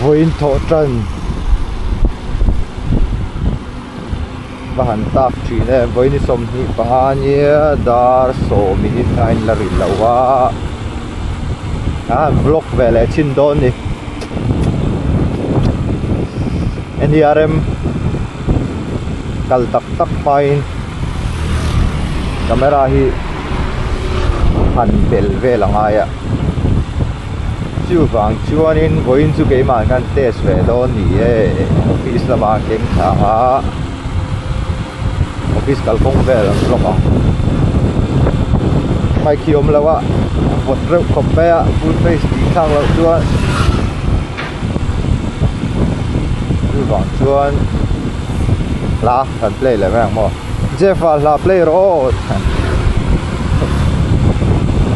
vawiin thawh tan va han tak thin e vawiin i sawmhnih panga nia dar sawmin a in la rilh loh a a han block ve leh chin dawn a ni nia rem kal tak tak hmain. camera hi han bel vel a ngai a chuvang chuanin vawiin chu keimah hian test ve dawn ni e office lama keng thla anga office kalkawng vel ang lawk ang mic hi awm lo a vawt reuh khawp mai a full face tih thlak loh chuan chuvang chuan hla-- Kan play leh mai ang maw Jeff ah hla play rawh aw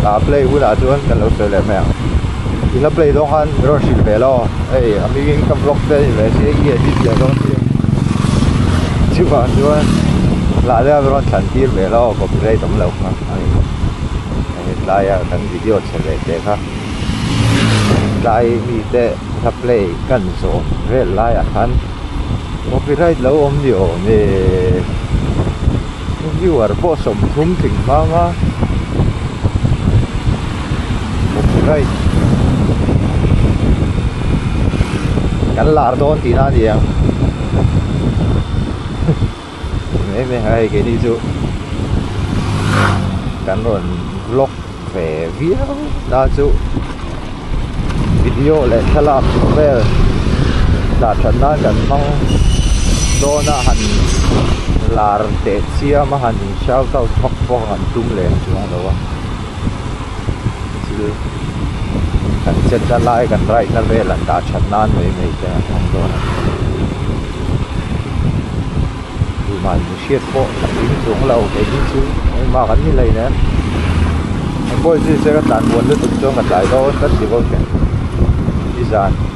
hla play hunah chuan kan lo sawi leh mai ang i hla play zawng khan i rawn hrilh ve lo hei a hming in ka vlog te ni mai se i edit leh zawng chu Jeff ah chuan hla leh a rawn thlan tir ve lo copyright awm lo kha a ni hei tlai a kan video chhe ve te kha tlai mite hla play kan zawh vel laiah khan-- copyright lo awm ni awm e viewer pawh sawmthum tling nghang a copyright kan lar dawn tihna a ni ang. Mai mai a hei keini chu kan rawn vlog ve viau na chu video leh thlalak vel dah that nan kan hmang dawn a han lar teh chiam a han shout out bawk bawk a han tum leh ang chuang lo a. thil kan chetna lai kan raihna vel an dah that nan mai mai te an awm dawn ang chu mah in hriat pawh a hring chung ala awm em hi chu engmah kha kan ni lei nen ka khawihi chu ka tlan buan lutuk chuan ka tlai dawn tlat tih bawk a ni nizan.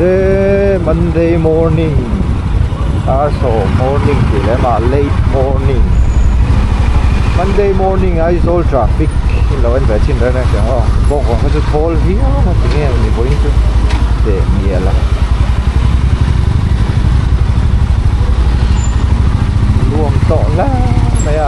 se monday morning arso morning tih leh mah late morning monday morning aizawl traffic in lo en ve chin reng reng ang aw bawng bawng kha chu thawl viau a ti ngei ang mipuii chu teh ni a la nuam tawh lai mai a.